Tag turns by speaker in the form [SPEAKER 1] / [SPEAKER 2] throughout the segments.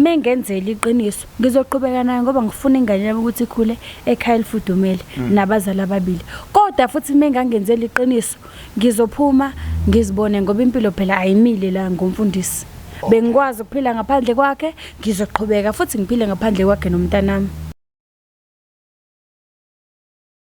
[SPEAKER 1] mengenzela iqiniso ngizoqhubeka nayo ngoba ngifuna ingane yami ukuthi ikhule ekhaya elifudumele mm. nabazali ababili kodwa futhi mengangenzela iqiniso ngizophuma ngizibone ngoba impilo phela ayimile la ngomfundisi bengikwazi ukuphila ngaphandle kwakhe ngizoqhubeka futhi ngiphile ngaphandle kwakhe nomntanami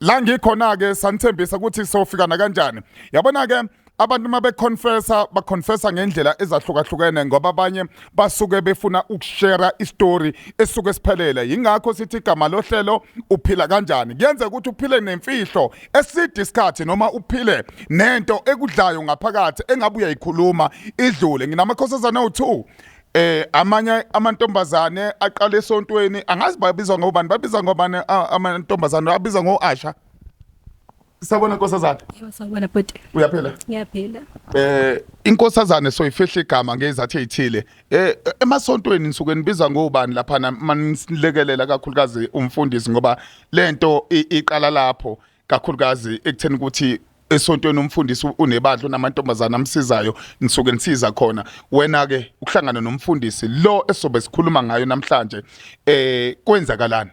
[SPEAKER 2] la ngikhona ke sanithembisa ukuthi sofikana kanjani yabona ke abantu uma beconfessa baconfessa ngendlela ezahlukahlukene ngoba abanye basuke befuna ukushera istory esuke siphelele yingakho sithi igama lohlelo uphila kanjani kuyenzeka ukuthi uphile nemfihlo eside isikhathi noma uphile nento ekudlayo ngaphakathi engabe uyayikhuluma idlule nginamakhosazana u2 eh amanye amantombazane aqala esontweni angazi babizwa ngobani babizwa ngobani a- amantombazane babizwa ngoasha sabona nkosazana Yebo sawubona bhuti.
[SPEAKER 1] uyaphela
[SPEAKER 2] Ngiyaphila.
[SPEAKER 1] eh
[SPEAKER 2] inkosazane soyifihla igama ngezathu ezithile eh emasontweni nisuke nibiza ngobani lapha manilekelela kakhulukazi umfundisi ngoba lento i- iqala lapho kakhulukazi ekutheni ukuthi esontweni umfundisi unebandla unamantombazana amsizayo ngisuke ngisiza khona wena ke ukuhlangana nomfundisi lo esobe sikhuluma ngayo namhlanje eh kwenzakalani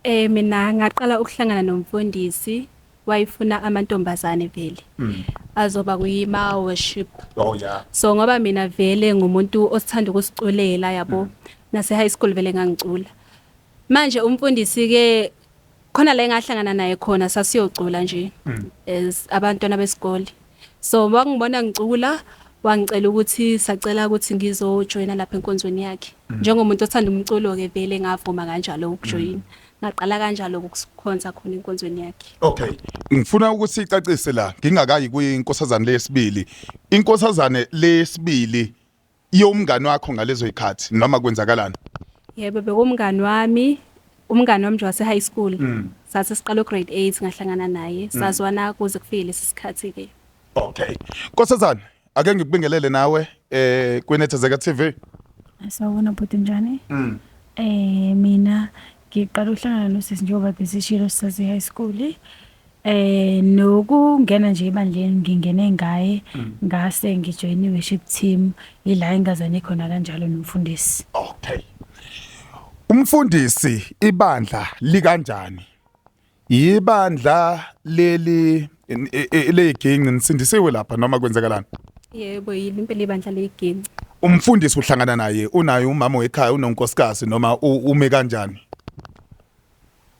[SPEAKER 3] eh mina ngaqala ukuhlangana nomfundisi wayifuna amantombazane vele mm. azoba kuyima worship oh yeah so
[SPEAKER 2] ngoba mina vele
[SPEAKER 3] ngumuntu osithanda ukusiculela yabo mm. nase high school vele ngangicula manje umfundisi ke khona la engahlangana naye khona sasiyocula nje mm. as abantwana besikole so wakungibona ngicula wangicela ukuthi sacela ukuthi ngizojoyina lapha enkonzweni yakhe mm. njengomuntu othanda umculo ke vele ngavuma kanjalo ukujoyina mm. ngaqala kanjalo ukukhonza khona enkonzweni yakhe okay ngifuna
[SPEAKER 2] ukuthi icacise la ngingakayi kwinkosazane lesibili inkosazane lesibili Iyo umngani wakho ngalezo ikhathi noma kwenzakalani? Yebo
[SPEAKER 3] bekumngani wami umngani wami nje wase-high school mm. sase siqala ugrade eight ngahlangana naye mm. sazwana kuze kufike lesi sikhathi-ke okay
[SPEAKER 2] nkosazana ake ngikubingelele nawe eh kwinethezeka tv sawubona
[SPEAKER 1] bhuti njani mm. eh mina Ngiqala ukuhlangana nosisi njengoba besishilo sisase high school. Eh nokungena nje ebandleni ngingene ngaye mm. ngase ngijoin worship team ila engazane khona kanjalo nomfundisi. Okay.
[SPEAKER 2] Umfundisi ibandla likanjani? Yibandla leli leyiginci nisindisiwe lapha noma kwenzekalani? Yebo yini
[SPEAKER 3] impela ibandla leyiginci. Umfundisi uhlangana
[SPEAKER 2] naye unaye umama wekhaya unonkosikazi noma ume kanjani?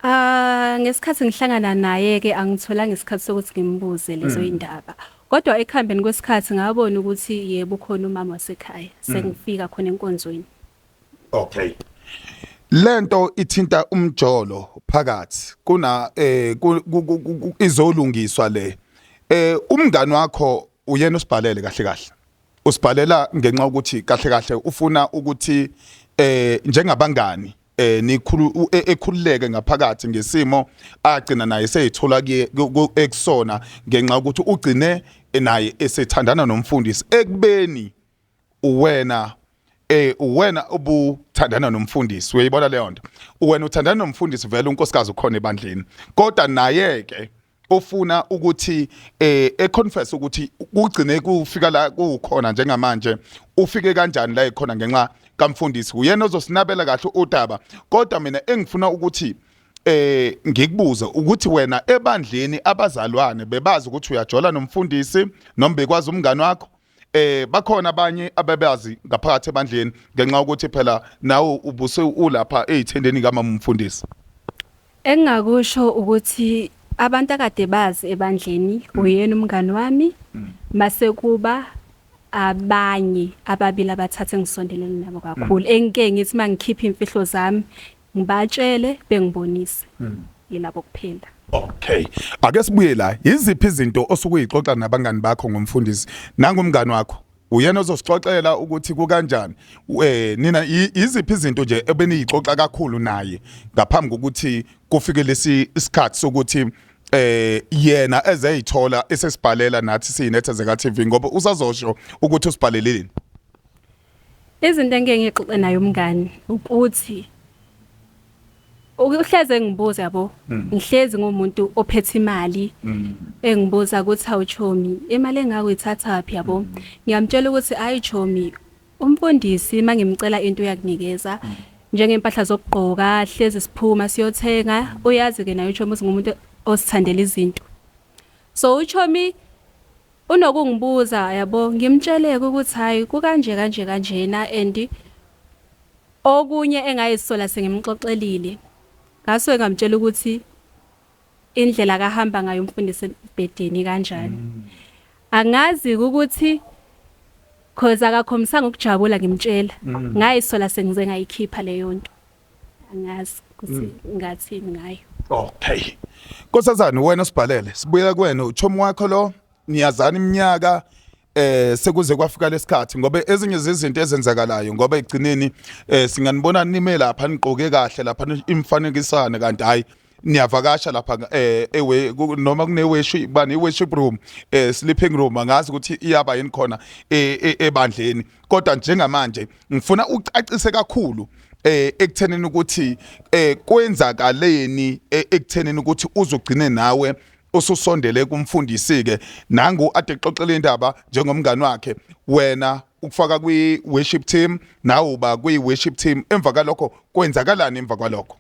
[SPEAKER 2] Ah
[SPEAKER 3] ngesikhathi ngihlangana naye ke angitholanga isikhathi sokuthi ngimbuze lezo mm. indaba. Kodwa ekuhambeni kwesikhathi ngabona ukuthi yebo khona umama wasekhaya mm. sengifika khona enkonzweni. okay
[SPEAKER 2] lento ithinta umjolo phakathi kuna eh izolungiswa le eh umngani wakho uyena usibhalele kahle kahle usibhalela ngenxa ukuthi kahle kahle ufuna ukuthi eh njengabangani eh nikhulu e, ekhululeke ngaphakathi ngesimo agcina naye seyithola ekusona ngenxa ukuthi ugcine naye esethandana nomfundisi ekubeni uwena eh uwena ubuthandana nomfundisi uyayibona leyo nto uwena uthandana nomfundisi vele unkosikazi ukhona ebandleni kodwa naye ke ofuna ukuthi eh econfess ukuthi kugcine kufika la kukhona njengamanje ufike kanjani la ekhona ngenxa kamfundisi uyena ozosinabela kahle udaba kodwa mina engifuna ukuthi eh ngikubuze ukuthi wena ebandleni abazalwane bebazi ukuthi uyajola nomfundisi noma bekwazi umngani wakho eh bakhona abanye ababazi ngaphakathi ebandleni ngenxa ukuthi phela nawe ubuse ulapha ezithendeni kamama umfundisi
[SPEAKER 3] engingakusho ukuthi abantu akade bazi ebandleni uyena umngani wami mase kuba abanye ababili abathathe ngisondelene nabo kakhulu engike ngithi mangikhipha imfihlo zami Ngibatshele bengibonise. Yilabo kuphela. Okay.
[SPEAKER 2] Ake sibuye la. Yiziphi izinto osuke uyixoxa nabangani bakho ngomfundisi? Nangu umngani wakho. Uyena ozosixoxela ukuthi kukanjani. Eh nina yi- yiziphi izinto nje ebeniyixoxa kakhulu naye ngaphambi kokuthi kufike lesi isikhathi sokuthi eh yena ezeyithola esesibhalela nathi siyinethezeka TV ngoba usazosho ukuthi usibhaleleni.
[SPEAKER 3] Izinto engike ngixoxe naye umngani ukuthi uhlezi engibuza yabo mm. ngihlezi ngomuntu ophethe imali mm. engibuza ukuthi awuchomi imali engako ithatha phi yabo mm. ngiyamtshela ukuthi ayi chomi umfundisi mangimcela into uyakunikeza njengempahla zokugqoka hlezi siphuma siyothenga uyazi ke nayo chomi uzingumuntu osithandela izinto So uchomi unokungibuza yabo ngimtsheleke ukuthi hayi kukanje kanje kanjena and okunye engayisola sengimxoxelile ngaso engamtshela ukuthi indlela kahamba ngayo umfundisi ebhedeni kanjani mm. angazi ukuthi cause akakhombisanga ukujabula ngimtshela mm. ngayisola sengize ngayikhipha leyo nto angazi ukuthi hmm. ngathini ngayo
[SPEAKER 2] okay nkosazane wena sibhalele sibuyela kuwena uchomi wakho lo niyazana iminyaka eh sekuze kwafika lesikhathi ngoba ezinye zezinto ezenzakalayo ngoba egcineni eh singanibona nime lapha niqoke kahle lapha imfanekisane kanti hayi niyavakasha lapha eh ewe noma kune worship bani worship room eh sleeping room angazi ukuthi iyaba yini khona e, e, ebandleni kodwa njengamanje ngifuna ucacise kakhulu eh ekuthenini ukuthi eh kwenzakaleni eh, ekuthenini ukuthi uzogcine nawe ususondele kumfundisi ke nangu ade xoxela indaba njengomngani wakhe wena ukufaka kwi worship team nawe uba kwi worship team emva kalokho kwenzakalani emva kwalokho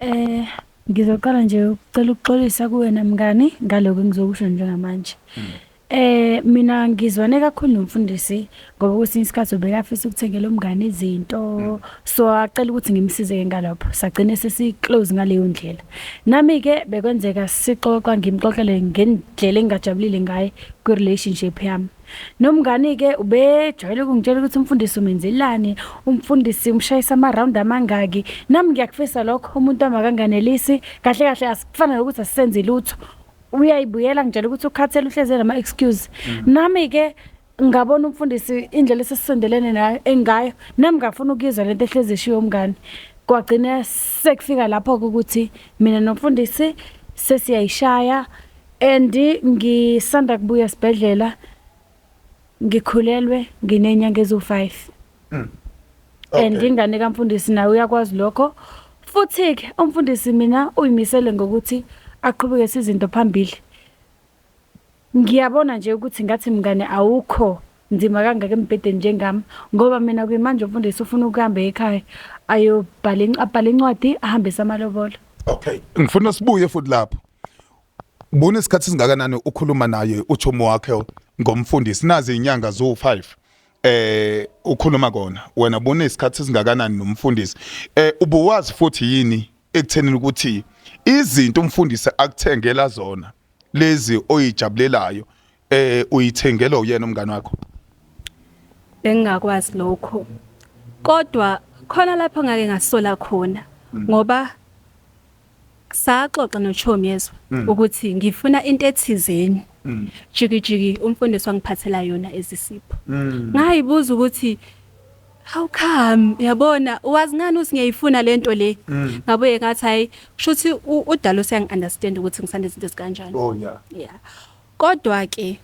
[SPEAKER 2] Eh ngizoqala
[SPEAKER 1] nje ukucela ukuxolisa kuwena mngani ngaloko engizokusho njengamanje. Mm. Eh mina ngizwane kakhulu nomfundisi ngoba kwesinye isikhathi ubekafisa ukuthengela umngane izinto mm. so acela ukuthi ngimsize ke ngalopho sagcine sesi close ngaleyo ndlela nami ke bekwenzeka sixoxa ngimxoxele ngendlela engajabulile ngaye kwi relationship yami Nomngani-ke ubejwayele ukungitshela ukuthi umfundisi umenzelani, umfundisi umshayisa ama-round amangaki. Nami ngiyakufisa lokho, umuntu wami akanganelisi. Kahle kahle asikufana nokuthi asisenzi lutho. Uyayibuyela ngitshela ukuthi ukhathele uhleze nama-excuse. Mm. Nami-ke ngabona umfundisi indlela esesisondelene nayo engayo, nami ngafuna ukuyizwa le nto ehlezi eshiwo umngani. Kwagcina sekufika lapho-ke ukuthi mina nomfundisi sesiyayishaya. and ngisanda kubuya esibhedlela ngikhulelwe nginenyanga eziwu-5 mm. okay. and ingane kamfundisi naye uyakwazi lokho futhi-ke umfundisi mina uyimisele ngokuthi aqhubeke sizinto phambili ngiyabona nje ukuthi ngathi mngane awukho nzima kangaka embhedeni njengami ngoba mina kuyimanje umfundisi ufuna ukuhamba ekhaya ayobhala abhale incwadi ahambise amalobolo okay ngifuna
[SPEAKER 2] sibuye futhi lapho Buna isikhathi singakanani ukhuluma naye uchumo wakhe ngomfundisi nazi inyanga zo5 eh ukhuluma kona wena bona isikhathi singakanani nomfundisi eh ubuwazi futhi yini ekuthenini ukuthi izinto umfundisi akuthengela zona lezi oyijabulelayo Eh uyithengelwa uyena umngane wakho? Bengingakwazi
[SPEAKER 3] lokho. Kodwa khona lapho ngake ngasola khona mm. ngoba saxoxa nochomi yezwa mm. ukuthi ngifuna into ethizeni mm. jikijiki umfundisi wangiphathela yona ezisipho mm. ngayibuza ukuthi how come yabona wazi ngani uthi ngiyayifuna lento le ngabuye ngathi hayi kushuthi udalo siyangi understand ukuthi ngisanda izinto ezikanjani oh yeah
[SPEAKER 2] yeah
[SPEAKER 3] Kodwa ke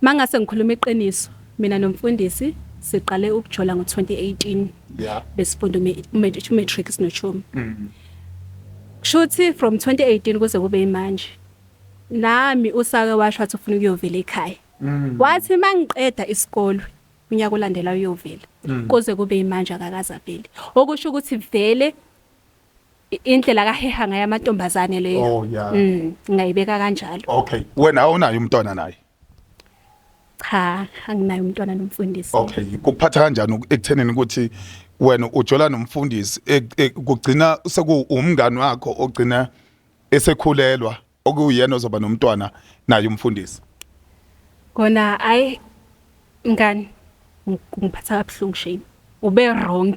[SPEAKER 3] mangase ngikhuluma iqiniso mina nomfundisi siqale ukujola ngo 2018 yeah. besifunda umatric sinochomi mm. kushuthi from 2018 kuze kube imanje nami usake washo wathi ufuna ukuyovela ekhaya mm. wathi mangiqeda isikole unyaka olandela uyovela mm. kuze kube imanje akakaza vele okusho ukuthi vele indlela akaheha ngayo amantombazane leyo Oh, yeah. mm, ngingayibeka kanjalo okay wena awunayo
[SPEAKER 2] umntwana naye
[SPEAKER 3] cha anginayo umntwana nomfundisi okay kuphatha
[SPEAKER 2] kanjani uku- ekuthenini ukuthi wena ujola nomfundisi ek- ek- kugcina sekuwumngani wakho ogcina esekhulelwa okuwuyena ozoba nomntwana naye umfundisi kona
[SPEAKER 3] ayi ngani ngiphatha kabuhlungu shame ube wrong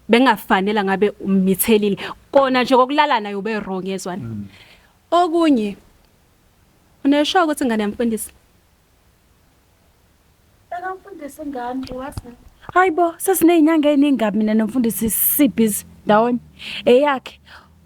[SPEAKER 3] bengafanele ngabe umithelile kona nje kokulala naye ube wrong yezwana mm. okunye unesho ukuthi ngane yamfundisi
[SPEAKER 1] Mfundisi ingane wazi. Hayibo sesinezinyanga eziningi kabi mina nomfundisi sibhizi ndawonye. Eyakhe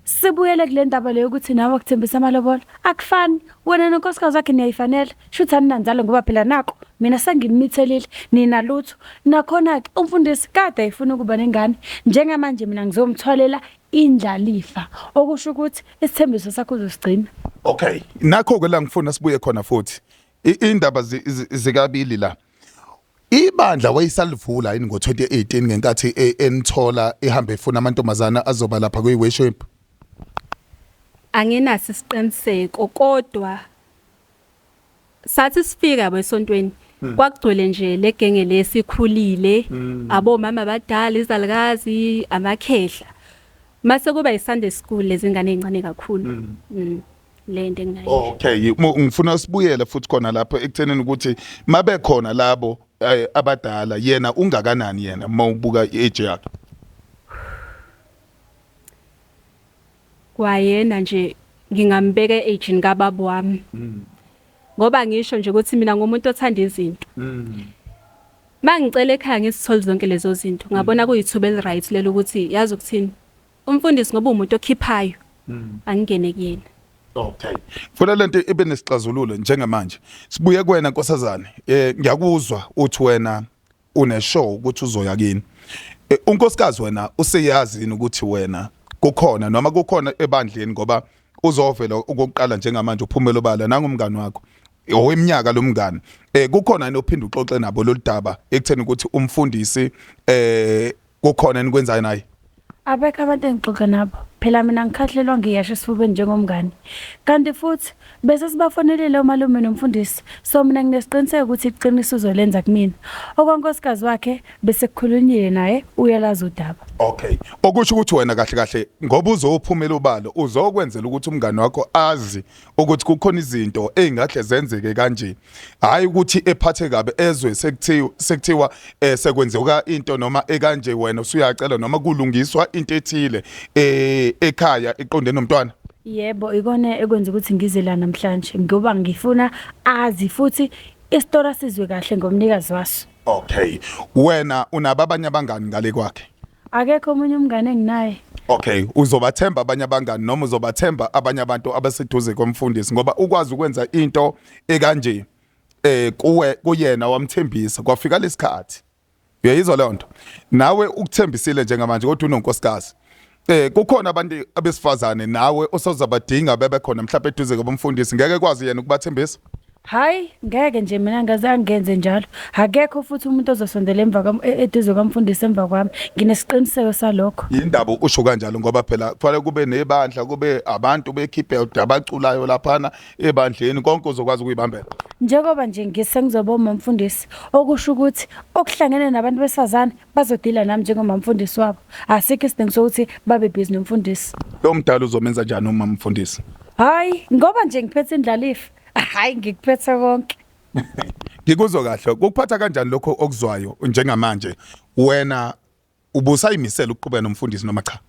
[SPEAKER 1] sibuyele kule ndaba leyo ukuthi nawe akuthembisa amalobolo akufani wena nonkosikazi wakhe niyayifanela shuthi aninanzalo ngoba phela nako mina senginimithelile nina lutho nakhona-ke umfundisi kade ayifuna ukuba nengane njengamanje mina ngizomthwalela indlalifa okusho ukuthi isithembiso sakho uzosigcina okay
[SPEAKER 2] nakho-ke la ngifuna sibuye khona futhi indaba zikabili la ibandla wayisalivula yini ngo-2018 ngenkathi e, enithola ihambe efuna amantombazana azoba lapha kwi-worship anginaso
[SPEAKER 3] isiqiniseko kodwa sathi sifika besontweni hmm. kwakugcwele nje legenge lesikhulile hmm. abomama abadala izalukazi amakhehla mase kuba iSunday school lezingane ezincane kakhulu hmm. lento enginayo Oh, okay Mo- ngifuna
[SPEAKER 2] sibuyele futhi khona lapho ekuthenini ukuthi mabekhona labo eh, abadala yena ungakanani yena uma ubuka i-age yakhe
[SPEAKER 3] kwayena nje ngingambeka e-agini kababa wami ngoba ngisho nje ukuthi mina ngumuntu othanda izinto mangicela ekhaya ngisithole zonke lezo zinto ngabona kuyithuba eliright lelo ukuthi yazi ukuthini Umfundisi ngoba umuntu okhiphayo angingene kuyena.
[SPEAKER 2] Okay. Funa lento ibe nesixazululo njengamanje. Sibuye kuwena nkosazane. Eh ngiyakuzwa uthi wena une show ukuthi uzoya kini. Eh, unkosikazi wena useyazi yini ukuthi wena kukhona noma kukhona ebandleni ngoba uzovela okokuqala njengamanje uphumela obala nangumngani wakho oweminyaka lo mngani eh kukhona yini ophinde uxoxe nabo lolu daba ekutheni ukuthi umfundisi eh kukhona enikwenzayo naye abekho abantu
[SPEAKER 1] engixoxa nabo phela mina ngikhahlelwa ngiyasho esifubeni njengomngane kanti futhi bese sibafonelele umalume nomfundisi so mina nginesiqiniseko ukuthi iqiniso uzolenza kumina okwankosikazi wakhe bese kukhulunyile naye uyalazi udaba okay okusho
[SPEAKER 2] ukuthi wena kahle kahle ngoba uzophumela ubalo uzokwenzela ukuthi umngane wakho azi ukuthi kukhona izinto ezingahle zenzeke kanje hayi ukuthi ephathe kabe ezwe sekuthiwa sekuthiwa eh, sekwenzeka into noma ekanje wena usuyacela noma kulungiswa into ethile eh, ekhaya iqonde nomntwana yebo ikona
[SPEAKER 1] ekwenza ukuthi ngize la namhlanje ngoba ngifuna azi futhi isitora sizwe kahle ngomnikazi waso okay
[SPEAKER 2] wena unababanye abangani ngale kwakhe Akekho omunye
[SPEAKER 1] umngane enginaye. Okay,
[SPEAKER 2] uzobathemba abanye abangani noma uzobathemba abanye abantu abaseduze komfundisi ngoba ukwazi ukwenza into ekanje eh kuwe kuyena wamthembisa kwafika lesikhathi. Uyayizwa leyo nto. Nawe ukuthembisile njengamanje kodwa unonkosikazi. Eh kukhona abantu abesifazane nawe osazabadinga bebe khona mhlawumbe eduze komfundisi ngeke kwazi yena ukubathembisa. Hayi
[SPEAKER 1] ngeke nje mina ngazange ngenze njalo. Akekho futhi umuntu ozosondela emva kwami e- eduze kwamfundisi emva kwami. Nginesiqiniseko salokho. Yindaba usho kanjalo
[SPEAKER 2] ngoba phela kufanele kube nebandla kube abantu bekhiphe abaculayo laphana ebandleni konke uzokwazi ukuyibambela. Njengoba nje
[SPEAKER 1] ngisengizoba umamfundisi okusho ukuthi okuhlangene nabantu besifazane bazodila nami njengomamfundisi wabo. Asikho isidingo sokuthi babe busy nomfundisi. Lo mdala uzomenza
[SPEAKER 2] njani uma mfundisi? Hayi ngoba
[SPEAKER 1] nje ngiphethe indlalifa hayi ngikuphethe konke ngikuzwa
[SPEAKER 2] kahle kukuphatha kanjani lokho okuzwayo njengamanje wena ubusayimisela ukuqhubeka nomfundisi noma cha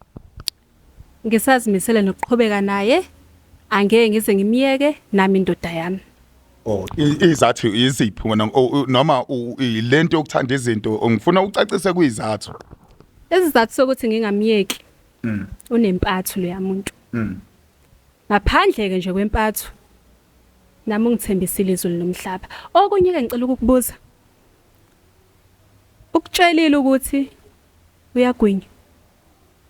[SPEAKER 3] ngisazimisele nokuqhubeka naye angeke ngize ngimyeke nami indoda yami Oh
[SPEAKER 2] i- izathu iziphi wena o- u- noma u- i- lento yokuthanda izinto ngifuna ucacise kuyizathu isizathu
[SPEAKER 3] sokuthi ngingamyeki unempathu leya muntu Ngaphandle-ke nje kwempatho, nami ungithembisile izulu nomhlaba. Okunye-ke ngicela ukukubuza, ukutshelile ukuthi uyagwinya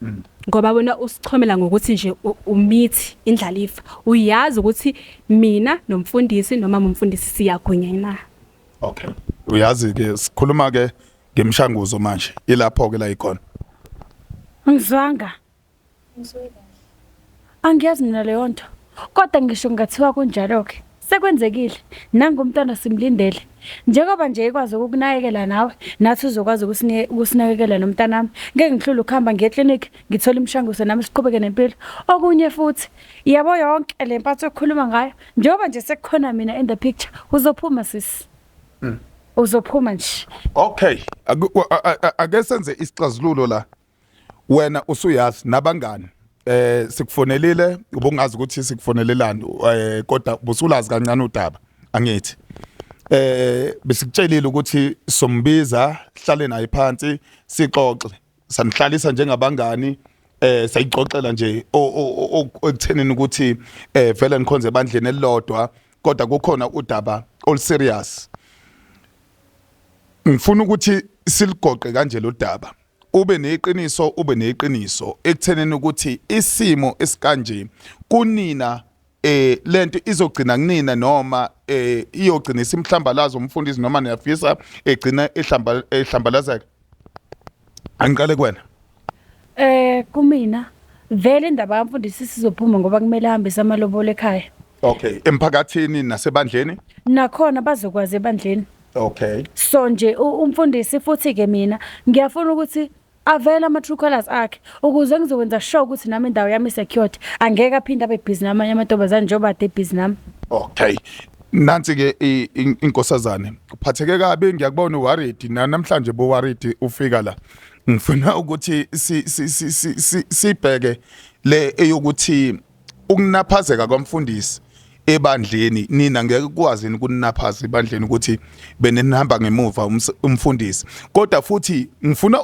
[SPEAKER 3] mm. ngoba wena usichomela ngokuthi nje umithi indlalifa uyazi ukuthi mina nomfundisi noma umfundisi siyagwinya na okay
[SPEAKER 2] uyazi ke sikhuluma ke ngemshanguzo manje ilapho ke la ikhona
[SPEAKER 1] angizwanga Angiyazi mina leyo nto kodwa ngisho kungathiwa kunjalo-ke sekwenzekile nangu umntwana simlindele njengoba nje ekwazi ukukunakekela nawe nathi uzokwazi ukusine- ukusinakekela nomntanami ngeke ngihlule ukuhamba ngiye eklinikhi ngithole imishanguzo nami siqhubeke nempilo okunye futhi yabo yonke le mpatho okhuluma ngayo njengoba nje sekukhona mina in the picture uzophuma sisi uzophuma nje Okay, aku-
[SPEAKER 2] a- a- a- ake senze isixazululo la. wena usuyazi nabangani eh sikufonelile ubungazi ukuthi sikufonelelani eh kodwa busulazi kancane udaba angithi eh besikutshelile ukuthi sombiza hlale naye phansi sixoxe sanihlalisa njengabangani eh sayixoxela nje okuthenini ukuthi eh vele nikhonze bandleni elilodwa kodwa kukhona udaba all serious ngifuna ukuthi siligoqe kanje lo daba ube neqiniso ube neqiniso ekutheneni ukuthi isimo esikanje kunina eh lento izogcina kunina noma eh iyogcina isimhlambalazo umfundisi noma niyafisa egcina ehlamba ehlambalazeka angiqale kuwena eh kumina
[SPEAKER 1] vele indaba kamfundisi sizophuma ngoba kumele ahambe samalobole ekhaya okay
[SPEAKER 2] emphakathini nasebandleni nakhona
[SPEAKER 1] bazokwazi ebandleni Okay. So
[SPEAKER 2] nje u-
[SPEAKER 1] umfundisi futhi ke mina ngiyafuna ukuthi avele ama true colors akhe ukuze ngizokwenza sure ukuthi nami indawo yami secured angeke aphinde abe busy namanye amantombazane njengoba ade busy nami. Okay.
[SPEAKER 2] Nansi ke i- in- inkosazane. Uphatheke kabi ngiyakubona worried na namhlanje bo worried ufika la. Ngifuna ukuthi si si si si- si- sibheke le eyokuthi ukunaphazeka kwamfundisi ebandleni nina ngeke kwazi ukunaphaza ebandleni ukuthi benihamba ngemuva umfundisi kodwa futhi ngifuna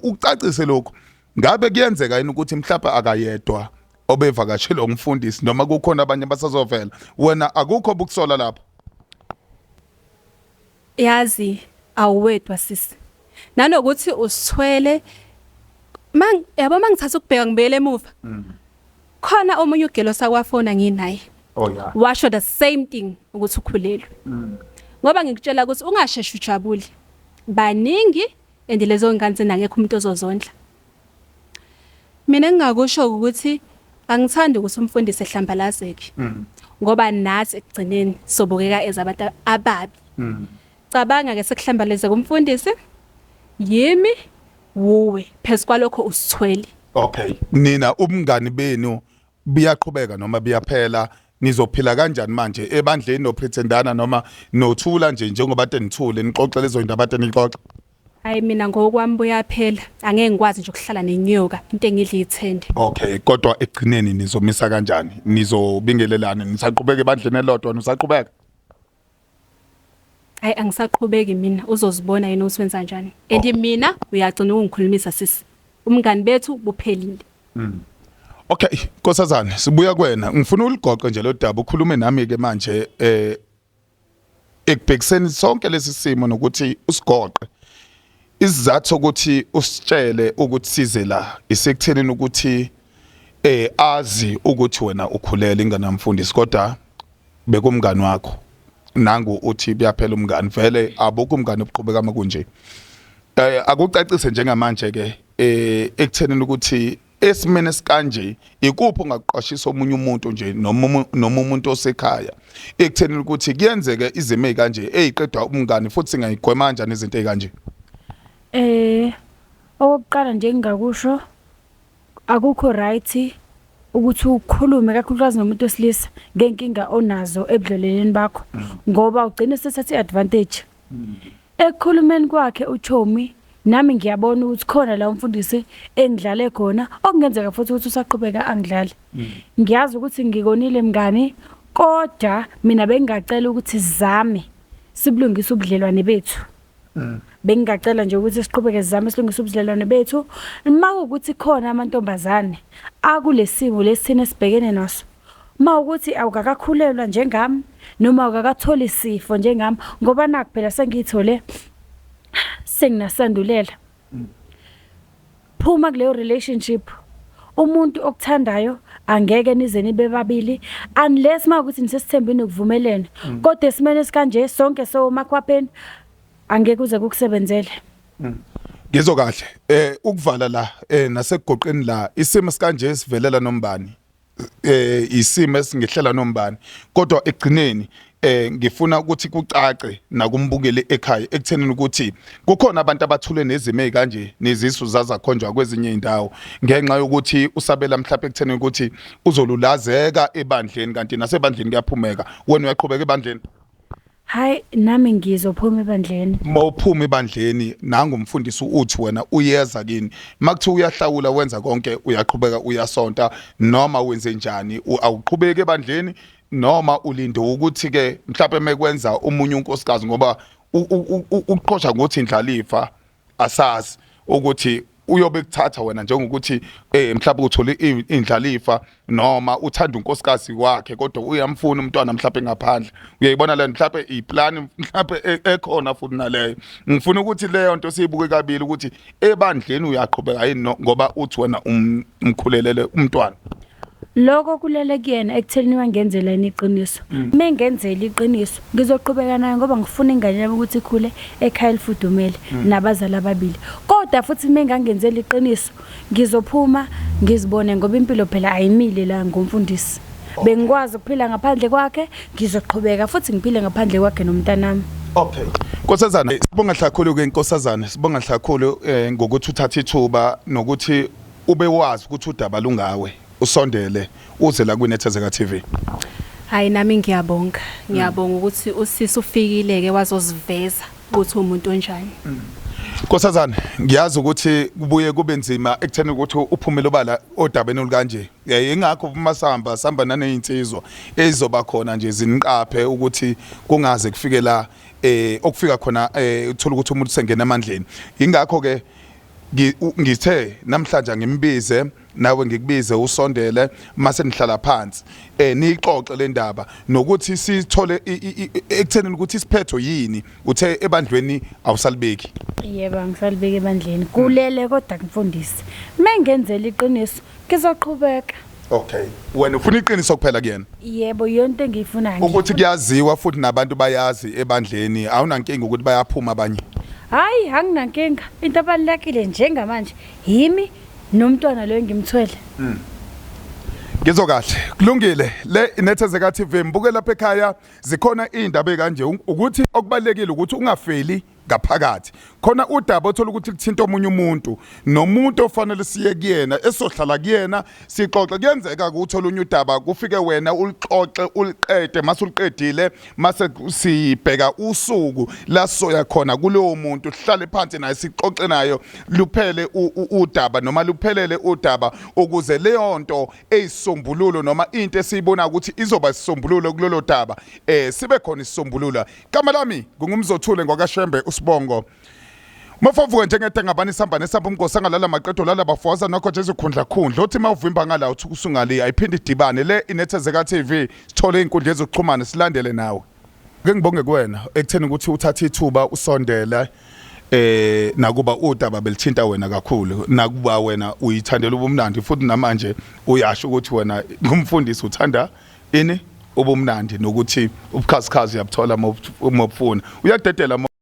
[SPEAKER 2] ucacise lokho ngabe kuyenzeka yini ukuthi mhlawumbe akayedwa obevakashela umfundisi noma kukhona abanye basazovela wena akukho bukusola lapho
[SPEAKER 3] Yazi awuwedwa sisi. Nanokuthi usithwele mang yabo mangithatha ukubheka ngibuyele emuva. Mm. Khona omunye ugelo sakwafona nginaye. Oh yeah. Washo
[SPEAKER 2] the same thing
[SPEAKER 3] ukuthi ukhulelwe. Mm. Ngoba ngikutshela ukuthi ungasheshe ujabule. Baningi and lezo ngane senangekho umuntu ozozondla. Mina engingakusho ukuthi angithandi ukuthi umfundisi ehlambalazeke mm. ngoba nathi ekugcineni sobukeka ezabantu ababi. Mm. Cabanga ke sekuhlambalezeka umfundisi yimi wuwe phezu kwalokho usithwele. Okay.
[SPEAKER 2] Nina ubungani benu biyaqhubeka noma biyaphela nizophila kanjani manje ebandleni nopretendana noma nothula nje njengoba tenithule nixoxe lezo zinto abade nixoxe hayi mina
[SPEAKER 3] ngokwami buyaphela angeke ngikwazi nje ukuhlala nenyoka into engidla ithende okay kodwa
[SPEAKER 2] ekugcineni nizomisa kanjani nizobingelelana nisaqhubeka ebandleni elodwa nisaqhubeka
[SPEAKER 3] Hayi angisaqhubeki mina uzozibona yena ukuthi wenza njani. And oh. mina uyagcina ukungikhulumisa sisi. Umngani bethu buphelile. Mm.
[SPEAKER 2] Okay, nkosazana sibuya kuwena. Ngifuna uligoqe nje lo daba ukhulume nami ke manje eh ekubhekiseni sonke lesi simo nokuthi usigoqe Isizathu sokuthi usitshele ukuthi size la isekuthenini ukuthi eh azi ukuthi wena ukhulele ingane yamfundisi kodwa bekumngani wakho nangu uthi kuyaphela umngani vele abukho umngani obuqhubeka uma kunje eh akucacise njengamanje ke eh ekuthenini ukuthi esimeni esikanje ikuphi ongakuqwashisa omunye umuntu nje noma noma umuntu osekhaya ekutheni ukuthi kuyenzeke izimo ezikanje eziqedwa umngani futhi singayigwema kanjani izinto ezikanje eh
[SPEAKER 1] okokuqala nje engingakusho akukho right ukuthi ukhulume kakhulukazi nomuntu wesilisa ngenkinga onazo ebudleleleni bakho ngoba ugcine sethatha iadvantage Ekukhulumeni kwakhe uChomi nami ngiyabona ukuthi khona la umfundisi engidlale khona okungenzeka futhi ukuthi usaqhubeka angidlale ngiyazi ukuthi ngikonile mngani kodwa mina bengingacela ukuthi sizame sibulungise ubudlelwane bethu bengingacela nje ukuthi siqhubeke sizame silungise ubudlelwane bethu uma kuwukuthi khona amantombazane akulesimo lesithina esibhekene naso Uma ukuthi awukakakhulelwa njengami noma awukakatholi sifo njengami ngoba nakho phela sengiyithole senginasandulela. Phuma kuleyo relationship. Umuntu okuthandayo angeke nize nibe babili unless mawukuthi nisesithembini ukuvumelene. Mm. Kodwa esimene sikanje sonke so makhwapheni angeke uze kukusebenzele. Mm.
[SPEAKER 2] Ngizwe kahle eh ukuvala la eh nasegoqeni la isimo sikanje sivelela nombani. eh isimo esingehlela nombani kodwa ekugcineni eh ngifuna ukuthi kucace nakumbukeli ekhaya ekuthenini ukuthi kukhona abantu abathule nezimo ezikanje nezisu zazakhonjwa kwezinye indawo ngenxa yokuthi usabela mhlawumbe ekuthenini ukuthi uzolulazeka ebandleni kanti nasebandleni kuyaphumeka wena uyaqhubeka ebandleni Hayi
[SPEAKER 1] nami ngizophuma ebandleni. Uma uphuma ebandleni
[SPEAKER 2] nangu umfundisi uthi wena uyeza kini. Makuthiwa uyahlawula wenza konke uyaqhubeka uyasonta noma wenze njani awuqhubeki ebandleni noma ulinde ukuthi ke mhlawumbe mekwenza umunye unkosikazi ngoba uqhosha ngothi indlalifa asazi ukuthi uyobe kuthatha wena njengokuthi eh mhlawumbe uthole indlalifa noma uthanda unkosikazi wakhe kodwa uyamfuna umntwana mhlawumbe ngaphandle uyayibona le mhlawumbe iplan mhlawumbe e, ekhona futhi naleyo ngifuna ukuthi leyo nto siyibuke kabili ukuthi ebandleni uyaqhubeka yini ngoba uthi wena um, umkhulelele umntwana Lokho
[SPEAKER 1] kulele kuyena ekutheni wangenzela yini iqiniso. Mm. Mengenzela iqiniso ngizoqhubeka naye ngoba ngifuna ingane yami ukuthi ikhule ekhaya elifudumele mm. nabazali ababili. Kodwa futhi mengangenzela iqiniso ngizophuma ngizibone ngoba impilo phela ayimile la ngomfundisi. Bengikwazi ukuphila ngaphandle kwakhe ngizoqhubeka futhi ngiphile ngaphandle kwakhe nomntanami. Okay.
[SPEAKER 2] Nkosazana sibonga hlakhulu ke nkosazana sibonga hlakhulu eh, ngokuthi uthatha ithuba nokuthi Ube wazi ukuthi udaba lungawe. Usondele uze la kwiNethezeka TV. Hayi nami
[SPEAKER 3] ngiyabonga. Ngiyabonga ukuthi usisi ufikile ke wazosiveza ukuthi umuntu onjani. Nkosazana
[SPEAKER 2] ngiyazi ukuthi kubuye kube nzima ekutheni ukuthi uphumele obala odabeni olukanje. Eh, Ingakho uma sihamba sihamba nanezinsizwa ezizoba khona nje ziniqaphe ukuthi kungaze kufike la eh okufika khona eh uthola ukuthi umuntu sengena emandleni. Ingakho ke ngithe namhlanje ngimbize nawe ngikubize usondele mase nihlala phansi eh niyixoxe le ndaba nokuthi sithole ekuthenini ukuthi isiphetho yini uthe ebandlweni awusalibeki yebo angisalibeki
[SPEAKER 1] ebandleni kulele kodwa kumfundisi mengenzela iqiniso Ngizoqhubeka. Okay.
[SPEAKER 2] Wena ufuna iqiniso kuphela kuyena? Yebo, yonke
[SPEAKER 1] engiyifuna nje. Ukuthi kuyaziwa
[SPEAKER 2] futhi nabantu bayazi ebandleni, awunankinga ukuthi bayaphuma abanye. Hayi,
[SPEAKER 1] anginankinga. Into abalekile njengamanje yimi nomntwana lo engimthwele. Mm. Ngizwe
[SPEAKER 2] kahle. Kulungile. Le inethezeka TV mbuke lapha ekhaya zikhona izindaba kanje ukuthi okubalekile ukuthi ungafeli ngaphakathi khona udaba othola ukuthi kuthinta omunye umuntu nomuntu ofanele siye kuyena esohlala kuyena sixoxe kuyenzeka ukuthi olunye udaba kufike wena ulixoxe uliqede mase uliqedile mase sibheka usuku la soya khona kulowo muntu sihlale phansi naye sixoxe nayo luphele udaba noma luphelele udaba ukuze leyo nto eyisombululo noma into esiyibona ukuthi izoba isisombululo kulolo daba eh sibe khona isisombululo Igama lami ngungumzothule ngwakashembe usibongo mafavuka njengede ngabani sihamba nesamba umgosi angalala maqedo lala bafoza nokho nje izikhundla khundla othi mawuvimba ngala uthi kusungale ayiphinde idibane le inethezeka TV sithole inkundla yezokuxhumana silandele nawe ke ngibonge kuwena ekutheni ukuthi uthathe ithuba usondela eh nakuba udaba belithinta wena kakhulu nakuba wena uyithandela ubumnandi futhi namanje uyasho ukuthi wena ngumfundisi uthanda Ini? Ubumnandi nokuthi ubukhazikhazi uyabuthola uma ubufuna. Uyadedela uma